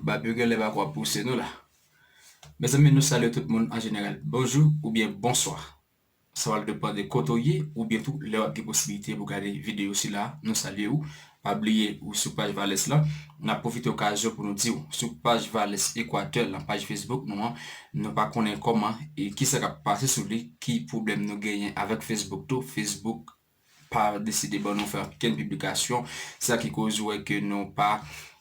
Bab yo genlè pako ap pouse nou la. Mezanmi nou salye tout moun an jeneral bonjou oubyen bonswa. Sa pral depan de kote w ye oubyen tou lè wap gen posibilite pou gade videyo sila nou salye ou. Pa bliye ou sou paj Valès lan. Nap pwofite okazyon pou nou di ou sou paj Valès Equateur lan paj Facebook nou an nou pa konnen kòman e kisa kap pase sou li ki pwoblèm nou genyen avèk Facebook tou Facebook pa deside ban nou fè okenn piblikasyon, se sa ki koz ou wè ke nou pa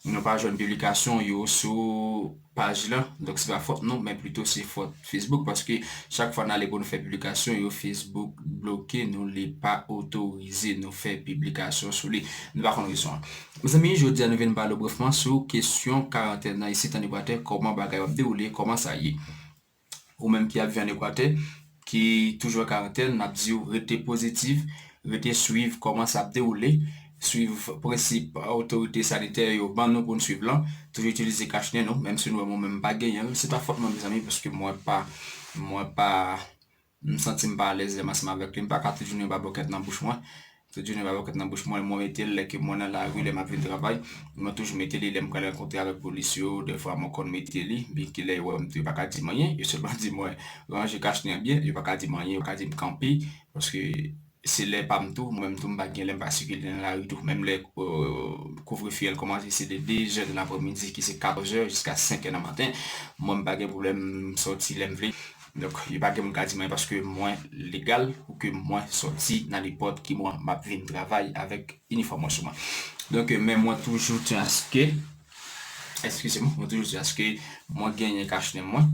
nou pa jwenn piblikasyon yo sou paj lan, donk se pa fòt nou men plito se fòt Facebook paske chak fwa nale pou nou fè piblikasyon yo Facebook bloke nou li pa otorize nou fè piblikasyon sou li, nou pa konn rezon an. Mezanmi jodi a nou vin pale brefman sou kesyon karantèn nan isit an Ekwatè kòman bagay yo ap dewoule, kòman sa ye. Ou menm ki ap vi an Ekwatè, ki toujou an karantèn, nap diw rete pozitiv, rete swiv kòman sa ap dewoule, swiv prensip otorite sanitè yo ban nou poun swiv lan, toujou itilize kach nen nou, menm si nou wèm ou menm m pa genyenl, se pa fòt mwen mezanmi paske mwen pa mwen pa. M santi m pa alèz lè m ansanm avèk li. M pa ka tout jounen ba bòkèt nan bouch mwen. Tout jounen ba bòkèt nan bouch mwen. Mwen mete l lè ke mwen nan lari, lè m ap vin travay. Mwen toujou mete li lè m pral rankontre avèk polis yo. Dèfwa mwen konn mete li. Byenke lè yo wè m tou yo pa ka di m anyen. Yo sèlman di mwen ranje kachnen an byen. Yo pa ka di m anyen. Yo ka di m kanpe paske Se lè pa m tou, mwen menm tou m pa t gen lè m pa sikile nan lari tou. Menm lè kouvrefe an kòmanse se de 2 zè nan apremidi ki se 14 zè jiska 5 è nan maten, mwen m pa gen pwoblèm m sòti lè m vle. Donk li pa gen moun k a di mwen paske mwen legal pou ke mwen sòti nan nenpòt ki moman m ap vin travay avèk inifòm mwen sou mwen. Donk men mwen toujou tyen aske, èskize m, mwen toujou di aske mwen genyen kachnen mwen.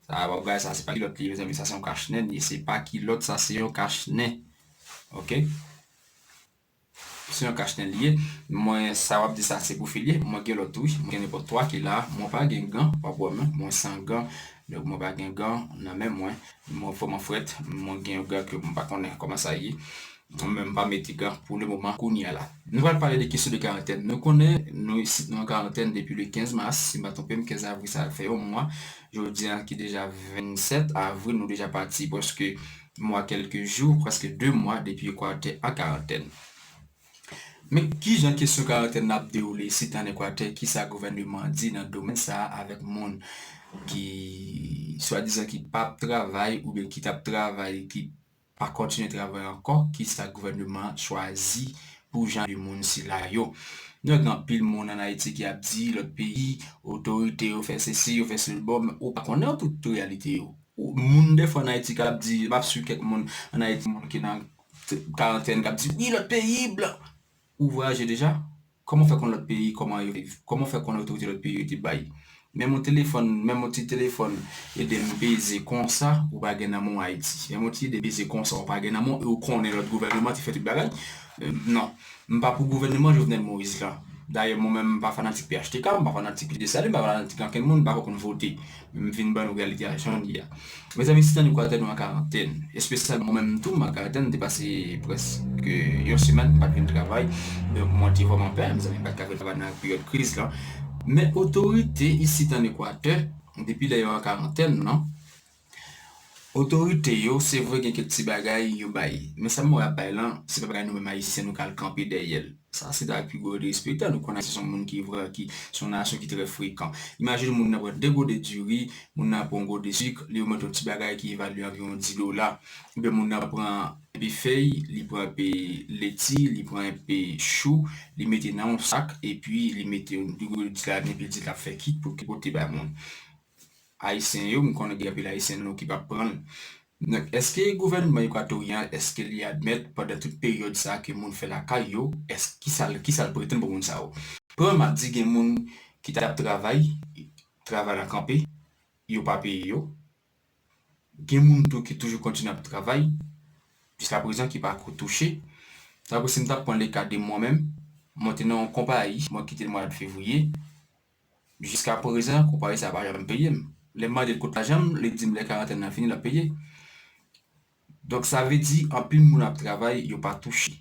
Sa a bagay sa se pa kilòt li ye mezanmi sa se yon kach nen li se pa kilòt sa se yon kach nen ok se yon kach nen li ye mwen sa wap di sa se pou fi li ye mwen gen lòt tou wi mwen gen nenpòt 3 ki la mwen pa gen gan wap wè mwen mwen san gan donk mwen pa gen gan nan men mwen mwen vrèman frèt mwen gen yon gan ke mwen pa konnen kòman sa ye mwen menm pa mete gan pou le moman kounya la nou pral pale de kesyon de karantèn nou konnen nou isit nou an karantèn depi le 15 mas si m pa twonpem 15 avril sa fè yon mwa Jodi a ki deja 27 avril nou deja pati pwèske mwa kèlke jou, prèske 2 mwa depi Ekwatè an karantèn. Men kijan kesyon karantèn nan ap dewoule sit an Ekwatè, kisa gouvèneman an di nan domèn sa a avèk moun ki swadizan ki pap travay oubyen ki tap travay ki pa kontinye travay ankò kisa gouvèneman an chwazi pou jan de moun sila yo nou gen anpil moun an ayiti ki ap di lòt peyi otorite yo fè sesi yo fè sel bon men ou pa konnen tout reyalite yo moun defwa an ayiti kap di map swiv kèk moun an ayiti moun ki nan karantèn kap di wi lòt peyi blan Ou vwayaje deja? Kòman w fè konn lòt peyi kòman yo viv? Kòman w fè konn otorite lòt peyi yo te bay menm yon telefòn menm yon ti telefòn ede m peze konsa ou pa gen nan men w Ayiti? Menm yon ti ide peze konsa ou pa gen nan men w e ou konnen lòt gouvèneman te fè tout bagay? Non. M pa pou gouvèneman Jovenel Moïse lan. Dayè mwen menm m pa fanatik phtk, m pa fanatik Dessalines, m pa fanatik ankenn moun, m pa ko konn vote. M vin ban nou reyalite a jan l ye a. Mezanmi sitan nou ka tande w an karantèn, espesyalman mwen menm tou m an karantèn m te pase prèske yon semèn m pa t vin travay donk mwen te vrèman pè mezanmi m pa t ka vin travay nan peryòd kriz lan men otorite isit ann Ekwatè depi lè yo an karantèn nan Otorite yo se vre gen kèk ti bagay yo bay men sa MORA ap bay lan se pa bagay nou menm ayisyen nou ka al kanpe dèyè l sa se ta pi gwo derespektan nou konn ayisyen son moun ki vrè ki son nasyon ki trè frekan imajine moun nan pran 2 gode diri moun nan pran yon gode sik li remèt yon ti bagay ki evalye anviwon 10 dola oubyen moun nan pran enpe fèy li pran enpe leti li pran enpe chou li mete nan yon sak epi li mete yon 2 gode di la li mete di l ap fè kit pou l pote bay moun. Ayisyen yo, m konnen gen anpil Ayisyen nou ki pap pran l. Donk èske gouvènman Ekwatoryen èske li admèt pandan tout peryòd sa ke moun fè lakay yo, èske kisa l kisa l pretann pou moun sa yo? Premyèman ap di gen moun ki ta ap travay, travay la kanpe, yo pa peye yo. Gen moun tou ki toujou kontinye ap travay jiska prezan ki pa ko touche. Sa vle si m ta pran le ka de mwen menm, mwen te nan yon konpayi, mwen kite l mwa dfevriye. Jiska prezan konpayi sa pa janm peye m. Lè m mande l kot lajan m, li di m lè karantèn nan fini l ap peye. Donk sa vle di anpil moun ap travay yo pa touche.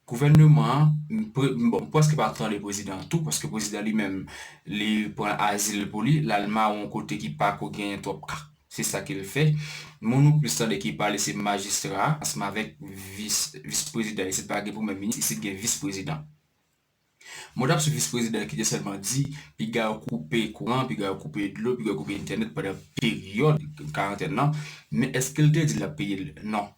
Gouvèneman an, bon m prèske pa tande prezidan an tou paske prezidan li menm li pran azil pou li, l al mawon kote ki pa ko genyen twòp ka. Se sa ke l fè. Moun ou plis tande ki pale se majistra a ansanm avèk vis, vis prezidan. Isit pa gen premye minis, isit gen vis prezidan. Mwen tap sou vis prezidan ki te sèlman di piga yo koupe kouran, piga yo koupe dlo, piga yo koupe entènèt pandan peryòd karantèn nan, men eskel te di lap peyel? Non.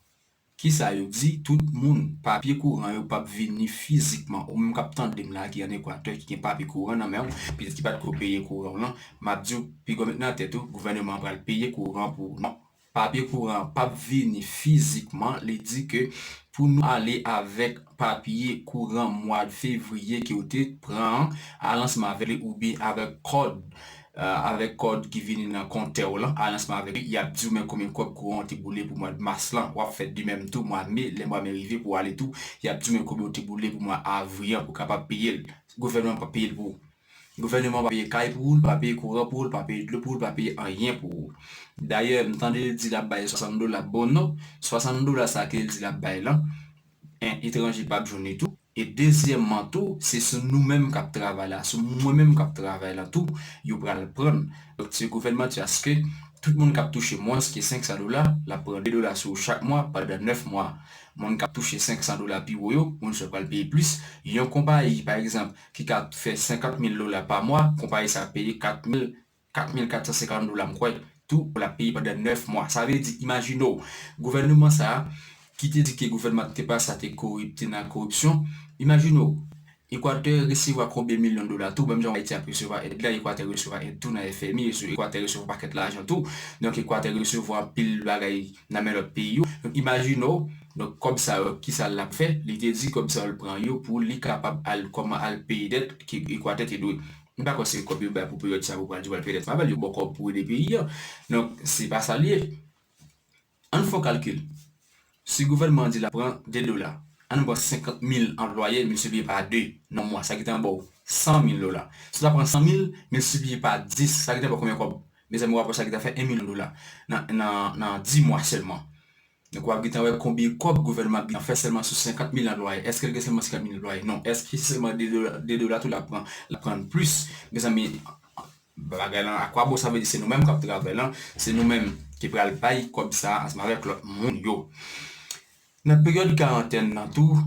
Kisa yo di tout moun papye kouran yo pap vini fizikman, ou menm kap tandem la ki an ekwatè ki gen papye kouran nan menw, petèt ki patko peye kouranw lan, map diw pigaw met nan tèt ou gouvèneman an pral peye kouran pou ou non. Papye kouran an pap vini fizikman, li di ke pou nou ale avèk papye kouran mwad fevriye ke ou te pran an, al ansanm avèk li oubyen avèk kòd, avèk kòd ki vini nan kontè w lan, al ansanm avèk li, y ap di ou men konbyen kòb kouran ou te boule pou mwad mas lan, w ap fè de menm tou mwa me, lè mwa me rive pou w ale tou, y ap di ou men konbyen ou te boule pou mwa avri an pou w kapab peye l, gouvènman an pap peye l pou ou. Gouvèneman an pa peye kay pou ou, li pa peye kouran pou ou, li pa peye dlo pou ou, li pa peye anyen pou ou. Dayè, m tande l di l ap bay 60 dola. Bon non, 60 dola sa a ke l di l ap bay lan, 1 etranje p ap jwenn li tou, e dezyèmman tou, se sou nou menm k ap travay la, sou mwen menm k ap travay la tou, yo pral pran. Donk, ti gouvènman di aske tout moun k ap touche mwens ke 500 dola, l ap pran 2 dola sou ou chak mwa pandan 9 mwa. Moun k ap touche 500 dola pi wo yo, moun sa yo pral peye plis. Yon konpayi, pa egzanp, ki ka fè 50 mil dola pa mwa, konpayi sa ap peye 4 mil, 4450 dola m kwè, tou pou l ap peye pandan 9 mwa. Sa vle di, imajine w, gouvèneman sa a, ki te di ke gouvèneman k te pase a te korip, te nan koripsyon, imajine w, Ekwatè resevwa konbyen milyon dola tou, menm jan Ayiti ap resevwa èd la, Ekwatè resevwa èd tou nan FMI, Ekwatè resevwa pakèt lajan tou, donk Ekwatè resevwa anpil bagay. nan men lòt peyi yo, donk imajine w, donk kòb sa yo ki sa l ap fè, li te di kòb sa yo l pran yo pou li kapab al kòman al peye dèt ke Ekwatè te dwe, m pa kwè se kòb yo bay pou peryòd sa pou pral di pou al peye dèt Fabel, yo ba w kòb pou ede peyi an, donk se pa sa l ye. Ann fè yon kalkil, si gouvènman an di l ap pran 2 dola, ann pran 50 mil anplwaye miltipliye pa 2 nan mwa sa ki tan ba w 100 mil dola, si l ta pran 100 mil miltipliye pa 10 sa ki tan ba w konbyen kòb? Mezanmi wap wè sa ki ta fè 1 milyon dola nan 10 mwa sèlman. Donk wap gentan wè konbyen kòb gouvènman ap gentan fè sèlman sou 50 mil nan lwaye. Eske l gen sèlman 50 mil nan lwaye? Non. Eske se sèlman 2 dola tou lap pran? Lap pran plis. Mezanmi bagay lan a kwa bon? Sa vle di se nou menm kap travay lan, se nou menm ki pral bay kòb sa a ansanm avèk lòt moun yo. Nan peryòd karantèn nan tou,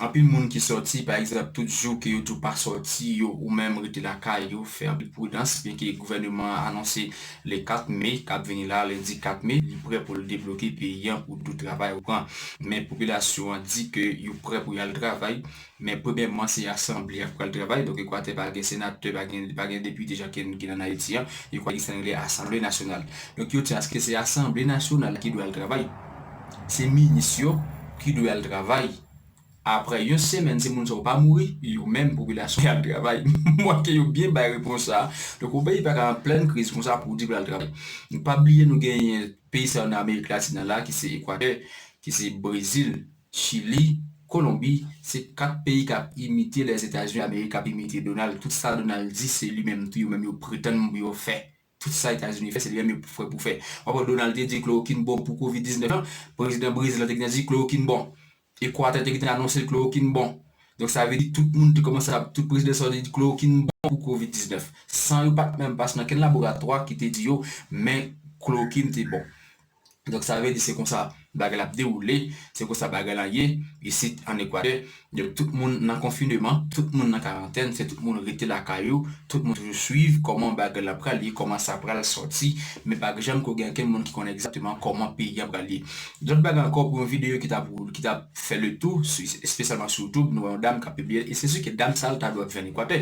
Anpil moun ki sòti, pa egzanp, tout jou ke yo di w pa sòti yo ou menm rete lakay yo, fè anpil pridans, byenke gouvèneman an anonse le 4 me k ap vini la, lendi 4 me, li prè pou l debloke peyi an pou tout travay repran. Men popilasyon an di ke yo prè pou y al travay, men premyèman se asanble y ap pral travay, donk Ekwatè pa gen senatè, pa gen pa gen depite jan ke n gen ann Ayiti an, yo kwè ki sa n rele asanble nasyonal. Donk yo di aske se asanble nasyonal ki dwe al travay. se minis yo ki dwe al travay aprè yon semèn si moun sa yo pa mouri yo menm popilasyon an al travay mwen ke yo byen bay repons sa donk yon peyi paka an plèn kriz konsa pou w di pou l al travay nou pa bliye nou genyen peyi sa yo nan amerik latin nan la ki se ekwatè ki se brezil chili kolonbi se 4 peyi k ap imite lèzetazini amerik k ap imite donal tout sa donal di se li menm tou yo menm yo pretann pou yo fè Tout sa Etazini fè se li menm yo fè pou fè. Wap wè Donald te di klorokin bon pou covid 19 lan, prezidan Brezil lan te gentan di klorokin bon. Ekwatè te gentan anonse klorokin bon. Donk sa vle di tout moun te kòmanse ap, tout prezidan sa yo te di klorokin bon pou covid 19. San yo pat menm pase nan kenn laboratwa ki te di yo men klorokin te bon. Donk sa vle di se konsa bagay la ap dewoule, se konsa bagay la ye isit an Ekwadè. Donk tout moun nan konfineman, tout moun nan karantèn, se tout moun rete lakay yo, tout moun toujou swiv kòman bagay la pral ye, kòman sa pral sòti, men pa janm ko gen okenn moun ki konnen egzakteman kòman peyi a pral ye. Lòt bagay ankò pou yon videyo ki tap ki tap fè le tou espesyalman sou youtube nou wè yon dam kap pibliye l e se si ke dam sa l ta dwe ap viv an Ekwatè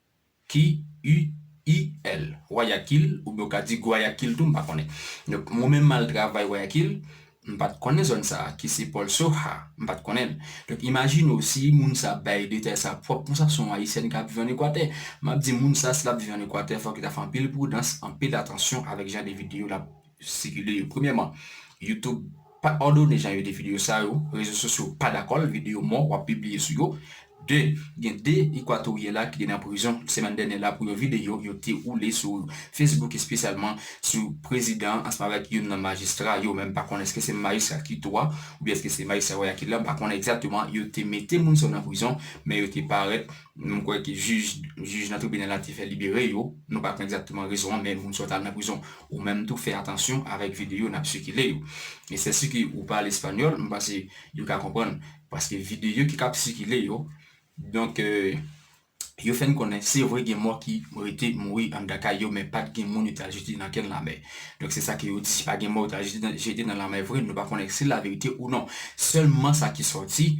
KUIL, Guayaquil, oubyen ou ka di Gwayakil tou, m pa konnen. Donk, mwen menm m al travay Guayaquil, m pa t konnen zòn sa a, ki se Pòl Soja, m pa t konnen l. Donk, imajine w si moun sa a bay detay sa a pwòp konsa, se yon Ayisyèn k ap viv ann Ekwatè. M ap di moun sa a si l ap viv ann Ekwatè fòk li ta fè anpil pridans, anpil atansyon avèk jan de videyo l ap sikile yo. Premyèman, YouTube pa òdone jan yo de videyo sa yo, rezo sosyo pa dakò l, videyo mò w ap pibliye sou yo. 2, gen 2 Ekwatoryè la ki te nan prizon semèn dènyè la pou yon videyo yo te woule sou Facebook espesyalman sou prezidan an ansanm avèk youn nan majistra yo, men m pa konnen èske se majistra Quito a oubyen èske se majistra Guayaquil la, m pa konnen egzakteman, yo te mete moun sa yo nan prizon, men yo te parèt, m kwè ke jij nan tribinal la te fè libere yo, nou pa konnen egzakteman rezon an, men moun sa yo t al nan prizon. Ou menm tou fè atansyon avèk videyo nap sikile yo. E sè si ke ou pale espanyòl, m panse yo ka konprann. Paske videyo ki kap sikile yo, donk yo fè n konnen se vre gen mò ki rete mouri anndan kay yo men pat gen moun yo ta jete nan kenn lamè. Donk se sa ke yo di, pa gen mò yo ta jete nan lamè vre, nou pa konnen si la verite ou non. Sèlman sa ki sòti.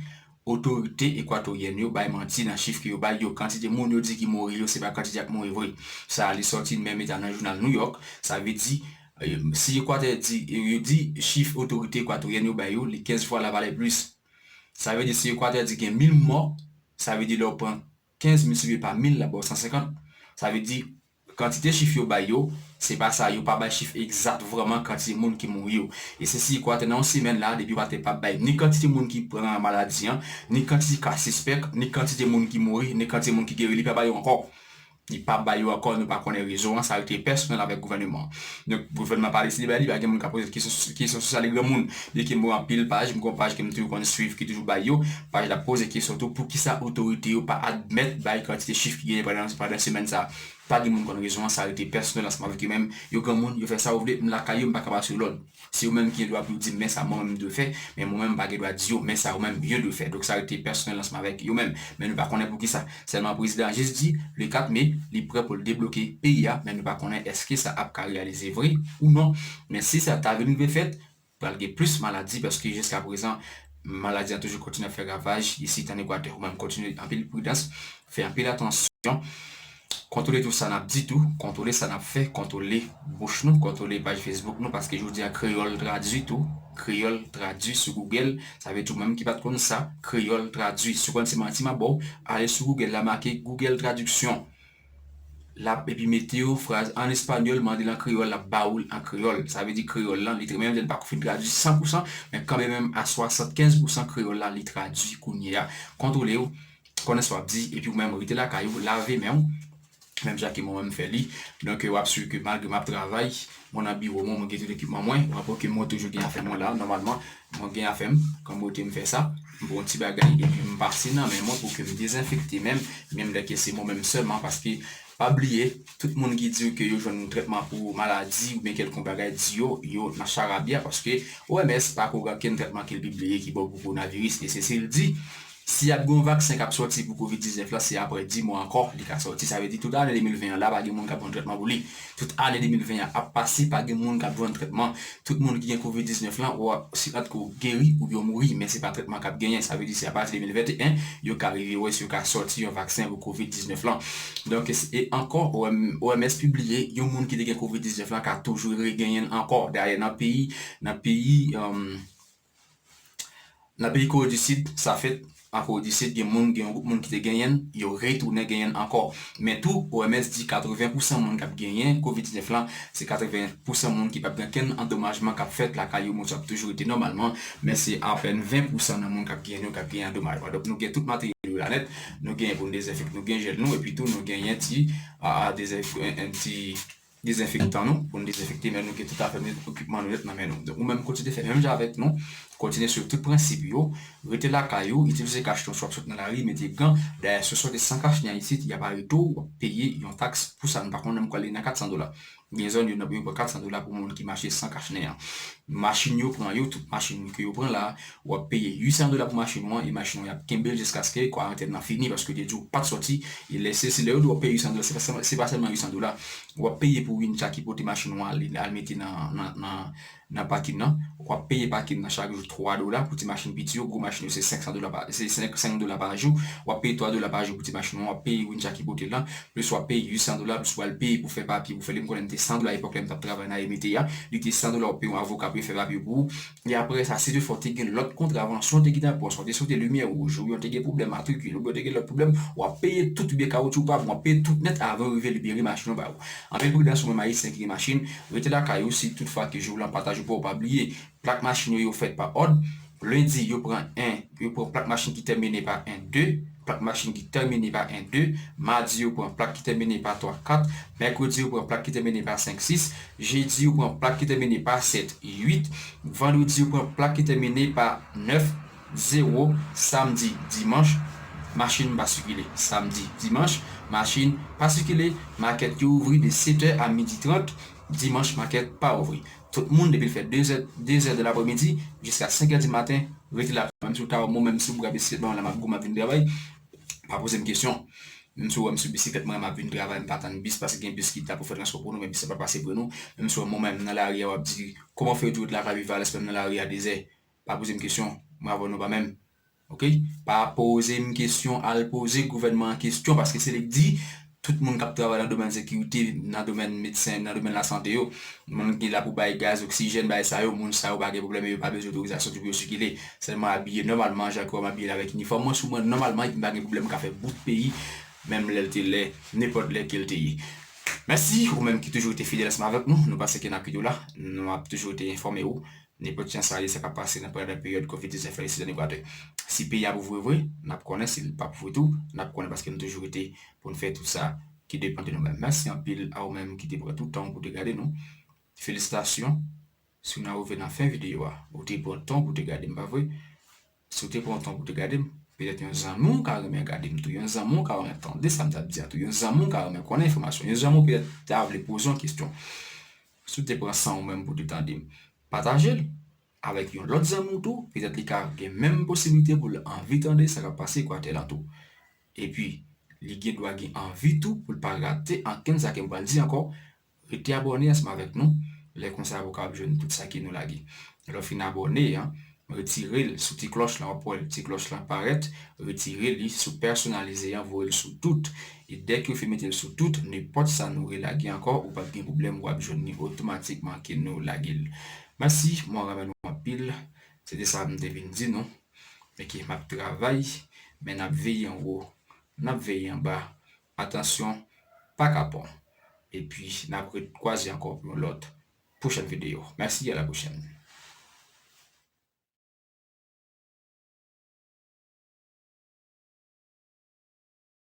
Otorite ekwatoryèn yo bay manti nan chif ke yo bay yo. Kantite moun yo di ki mouri yo se pa kantite ak mouri vre. Sa a li sòti menm eta nan jounal New York. Sa vle di, si Ekwatè di, yo di chif otorite ekwatoryèn yo bay yo, li 15 fwa la valè plis. Sa vle di si Ekwatè di gen 1000 mò, sa vle di lè ou pran 15 miltipliye pa 1000 l ap ba w 150. Sa vle di, kantite chif yo bay yo, se pa sa, yo pa bay chif egzat vrèman kantite moun ki mouri yo. E se si kwa te nan yon semèn la, depi kwa te pa bay ni kantite moun ki pran maladi an, ni kantite ka sispèk, ni kantite moun ki mouri, ni kantite moun ki geri, li pa bay yo ankò. Li pa bay yo ankò, nou pa konnen rezon an, sa rete pèsonèl avèk gouvèneman an. Donk gouvènman pa deside bay li, pa gen moun k ap poze kesyon sou sa. Li granmoun, byen ke mwen wè anpil paj, mwen gen yon paj ke m toujou konn suiv ki toujou bay yo. Paj la poze kesyon tou poukisa otorite yo pa admèt bay kantite chif ki genyen pandan semèn sa. Pa gen moun konn rezon an, sa rete pèsonèl ansanm avèk yo menm. Yo granmoun, yo fè sa yo vle, m lakay yo, m pa ka ba yo lòd. Se yo menm ki gen dwa pou yo di m men sa mwen menm m dwe fè, men mwen menm m pa gen dwa di yo men sa yo menm yo dwe fè. Donk sa rete pèsonèl ansanm avèk yo menm. Men nou pa konnen poukisa. Sèlman prezidan an jis di le 4 me li prè pou l debloke peyi a men nou pa konnen èske sa ap ka reyalize vre ou non men si sa ta vin rive fèt pral gen plis maladi paske jiska prezan maladi an toujou kontinye ap fè ravaj isit an Ekwatè ou menm kontinye anpil pridans fè anpil atansyon kontwole tou sa n ap di tou kontwole sa n ap fè kontwole bouch nou kontwole paj fesbouk nou paske jodi a kreyòl tradui tou kreyòl tradui sou gougèl Sa vle di ou menm ki pat konn sa kreyòl tradwi. Si ou panse se manti map baw, ale sou Google la make Google traduction lap epi mete yo fraz an espanyòl mandel an kreyòl lap ba oul an kreyòl. Sa vle di kreyòl lan li menm si li pako fin tradwi san pou san men kanmen menm a swasant kenz pou san kreyòl la li tradwi kounye a. Kontwole ou konnen sa wap di epi ou menm rete lakay ou lave menw Menm jan ke mwen menm m fè li. Donk wap swiv ke malgre map travay, mwen nan biwo mwen, mwen gen tout ekipman mwen. Wap wè ke mwen toujou gen afè mwen la. Nòmalman, mwen gen afè m. Kon bote m fè sa. M pran yon ti bagay epi m pase nan men mwen pou ke m dezenfekte men m. Menm lè ke se mwen menm sèlman. Paske pa bliye, tout moun ki di w ke yo jwenn trètman pou maladi oubyen kèlkonk bagay, di yo, yo nan charabya. Paske OMS pako gen okenn trètman ke l pibliye ki bon pou kowonaviris. E se si l di, Si ap gen yon vaksen k ap sòti pou covid 19 la se aprè 10 mwa ankò li ka sòti sa vle di tout ane 2020 an la pa gen moun k ap jwenn trètman pou li tout ane 2020 an ap pase pa gen moun k ap jwenn trètman tout moun ki gen covid 19 lan ou se antke ou geri oubyen ou mouri men se pa trètman k ap genyen sa vle di se apati 2021 yo ka rive wè si yo ka sòti yon vaksen pou covid 19 lan donk e ankò OMS pibliye yon moun ki te gen covid 19 lan ka toujou re genyen l ankò dayè nan peyi nan peyi. Nan peyi Kore di Sid, sa fèt. An Kore di Sid, gen moun, gen yon gwoup moun ki te genyenn, yo retounen genyenn ankò. Men tou, OMS di 80 pousan moun k ap genyen Covid 19 lan, se 80 pousan moun ki p ap gen kenn andomajman k ap fèt lakay yo, moun sa yo ap toujou rete nòmalman, men se apèn 20 pousan nan moun k ap genyenn yo k ap genyen andomajman. Donk nou gen tout materyèl yo la nèt, nou genyen pou nou dezenfek, nou gen jèl nou, epi tou nou genyen ti, ti. dezenfektan nou pou nou dezenfekte men nou gen tout afè nou yo ekipman nou yo nan men nou ou menm kontinye fè menm jan avèk nou kontinye swiv tout prensip yo rete lakay ou itilize kachiton si wap sot nan lari mete gan dayè si w sòti san kachiton isit yap arete w wap peye yon taks pou sa m pa konnen nan m kwè li nan 400 dola gen zòn yo pran 400 dola pou moun ki mache san kachnen an machin yo pran yo tout machin ke yo pran la W ap peye 800 dola pou machin ou an e machin ou an y ap kenbe l jiskaske kwarantèn lan fini paske yo te di w pa t sòti. E lè se lè yo di w ap peye 800 dola, se pa sèlman 800 dola w ap peye pou wincha ki pote machin ou an al mete nan pakin nan. W ap peye pakin nan chak jou 3 dola pou ti machin piti yo. Gwo machin yo se 500 dola pa se 5 dola pa jou. W ap peye 3 dola pa jou pou ti machin ou an. W ap peye wincha ki pote l lan. Plis w ap peye 800 dola plis ou pral peye pou fè papye pou fè li. M konnen li te 100 dola epòk lè m t ap travay nan Emete a. Li te 100 dola w ap peye yon avoka pou yo fè papye pou ou. E apre sa, si tou fwa w te gen lòt kontravansyon, w te gen tan pwen, w te sote limyè wouj, oubyen w te gen pwoblèm matrikil, oubyen w te gen lòt pwoblèm, w ap peye tout, oubyen kawotchou w pa bon, w ap peye tout nèt avan yo rive libere machin yo ba ou. Anpil pridans ou menm Ayisyen ki gen machin, rete lakay ou si tout fwa ke jou w lan pa ta jou pa w, pa bliye, plak machin yo yo fèt pa òd, lendi yo pran 1, yo pran plak machin ki tèmine pa 1, 2, plak machin ki tèmine pa 1, 2, madi yo pran plak ki tèmine pa 3, 4, mèkredi yo pran plak ki tèmine pa 5, 6, Jedi yo pran plak ki tèmine pa 7, 8. Vandredi yo pran plak ki tèmine pa 9, 0. Samdi, dimanch, machin pa sikile. Samdi, dimanch, machin pa sikile. Makèt yo ouvri de setè a midi trant. Dimanch makèt pa ouvri. Tout moun depi l fè dezè, dezè de lapremidi, jiska senkè di maten, rete la. Menm si w ta wè m, menm si w bwè biskit ban m la m ap gou m ap vin travay. Pa poze m kesyon. Menm si ou wè m sou bisiklet mwen map vin travay m pa tann bis paske gen bis ki la pou fè transpò pou nou men bis la pa pase pou nou menm si ou wè m mwen menm nan lari a wap di kòman ou fè di ou t la Valley Valence menm nan lari a dezè pa poze m kesyon mwen avèw nou pa menm ok pa poze m kesyon al poze gouvènman an kesyon paske se li k di tout moun kap travay nan domèn sekirite nan domèn medsen nan domèn lasante yo moun ki la pou bay gaz oksijèn bay sa yo moun sa yo pa gen pwoblèm e yo pa bezwen otorizasyon pou yo sikile Sèlman abiye nòmalman jan ke wè m abiye la avèk inifòm mwen sou mwen nòmalman epi m pa gen pwoblèm m ka fè bout peyi menm lè l te lè nenpòt lè ke l te ye. Mèsi ou menm ki toujou rete fidèl ansanm avèk nou, nou pa seke n ap kite w la, nou ap toujou rete enfòme ou nenpòt jan sa ye sa k ap pase nan pandan peryòd kovid 19 la isit ann Ekwadè. Si peyi a ap ouvri vre, n ap konnen, si l p ap ouvri tou, n ap konnen paske nou toujou rete pou n fè tout sa ki depan de nou menm. Mèsi anpil a ou menm ki te pran tout tan w pou w te gade nou. Felisitasyon! Si w nan rive nan fen videyo a, ou te pran tan pou te gade m pa vre? Si w te pran tan pou te gade m, petèt yon zanmi w ka renmen gade m tou, yon zanmi w ka renmen tande sa m t ap di a tou, yon zanmi w ka renmen konnen enfòmasyon, yon zanmi w petèt ta vle poze yon kesyon. Si w te pran san w menm pou te tande m, pataje l avèk yon lòt zanmi w tou, petèt li ka gen menm posiblite pou l anvi tande sa k ap pase Ekwatè lan tou. Epi, li gen dwa gen anvi tou pou l pa rate ankenn sa ke m pral di ankò, Rete abòne ansanm avèk nou, lè konsa ou kapab jwenn tout sa ki nou lage. Lè w fin abòne, retire l sou ti klòch lan wap wè ti klòch lan parèt, retire li sou pèsonalize an voye l sou tout e dèke ou fin mete l sou tout nenpòt sa nou relage ankò ou pap gen pwoblèm wap jwenn li otomatikman ke nou lage l. Mèsi mwen renmen nou anpil se te sa m te vin di nou ok map travay men nap veye anwo nap veye anba Atansyon pa kapon epi nap re kwaze ankò pou yon lòt pwochèn videyo mèsi a la pwochèn.